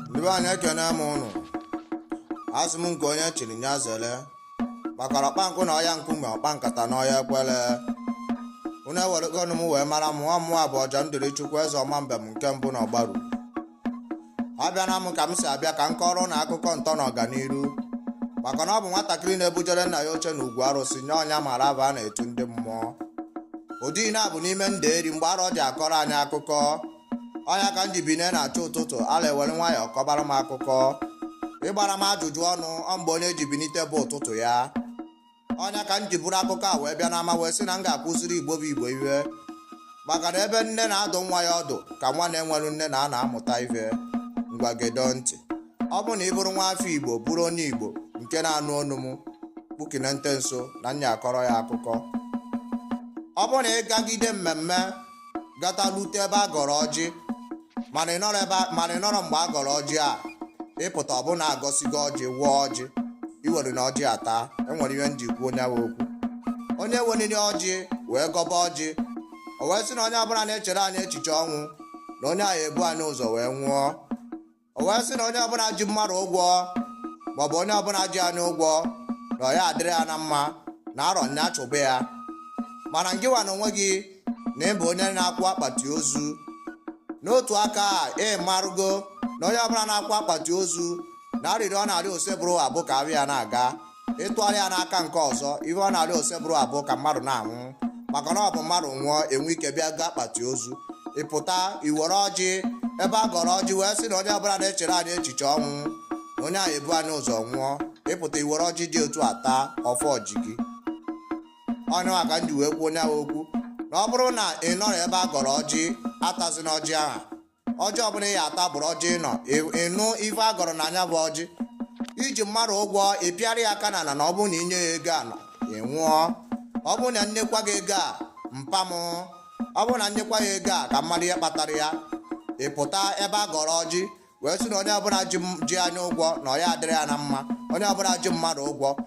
ndị be anyị ekene m ụnụ asị m nke onye chiri nya zele maka na ọkpa nkụ na ọya nkume ọkpa nkata na ọya ekwele unu eweregonụ m wee mara m nwa mmụọ bụ ọja ndịrị chukwu eze ọma mbem nke mbụ na ọgbaru abịana m ka m si abịa ka m kọọrọ ụnụ akụkọ ntọ na ọganiru maka na ọ bụ nwatakịrị na-ebujere nna ya oche na ugwu arụsị nye ọ nya mara afa a na-etu ndị mmụọ ụdị na-abụ n'ime nderi mgbe arọ ji akọrọ anyị akụkọ ọ nya ka m ji bine na-achọ ụtụtụ ala ewere nwayọọ kọbara m akụkọ ị gbara m ajụjụ ọnụ ọ mgbe onye ji binite bụ ụtụtụ ya ọ nya ka m ji buru akụkọ a wee bịa n'ama wee sị na m ga-akụziri igbo bụ igbo ihe maka na ebe nne na-adụ nwa ya ọdụ ka nwa na-enwerọ nne na-anọ amụta ihe ngwa gedo ntị ọ bụ na ị bụrụ nwa afọ igbo bụrụ onye igbo nke na-anụ ọnụ m kpukine nte nso na m ya akọrọ ya akụkọ ọ bụ na ị gagide mmemme gata lute ebe a gọrọ ọjị mana ị nọrọ mgbe a gọrọ ọjị a ị pụta ọ bụ na a gọsigo ọjị wụọ ọjị i werena ọjị ata e nwere ihe m ji kwuo onye ahụ okwu onye weliri ọjị wee gọba ọjị o wee sị na onye ọbụla na-echere anyị echiche ọnwụ na onye ahụ ebu anyị ụzọ wee nwụọ o wee sị na onye ọbụla ji mmadụ ụgwọ maọbụ onye ọbụla ji anyị ụgwọ na ọ ya adịrị ya na mma na arọ nya chụba ya mana ngịwa na onwe gị na ị bụ onye na-akụ akpati ozu n'otu aka ị marụgo na onye ọbụla na-akụ akpati ozu na arịrịọ ọ na-arịọ osebụrụwa bụ ka afịa ya na-aga ị tụgharịa n'aka nke ọzọ ihe ọ na-arịọ osebụrụwa bụ ka mmadụ na-anwụ maka na ọ bụ mmadụ nwụọ e nwee ike bịa goo akpati ozu ị pụta i were ọjị ebe a gọrọ ọjị wee sị na onye ọbụla na-echere anyị echiche ọnwụ na onye ahụ ebu anyị ụzọ nwụọ ị pụta i were ọjị dị otu a taa ọfọ ji gị ọ nya ka m ji wee kwuo onye ahụ okwu na ọ bụrụ na ị nọrọ ebe a gọrọ ọjị atazina ọjị ahụ ọjị ọbụla ị ya ata bụrụ ọjị ị nọ ị nụ ife a gọrọ na nya bụ ọjị i ji mmadụ ụgwọ ị pịara ya aka n'ana na ọ bụrụ na i nye ya ego a ị nwụọ ọ bụrụ na m nyekwa gị ego a mpa m ọ bụrụ na m nyekwa ya ego a ka m mara ihe kpatara ya ị pụta ebe a gọrọ ọjị wee sị na onye ọbụla ji anyị ụgwọ na ọ ya adịrị ya na mma onye ọbụla ji mmadụ ụgwọ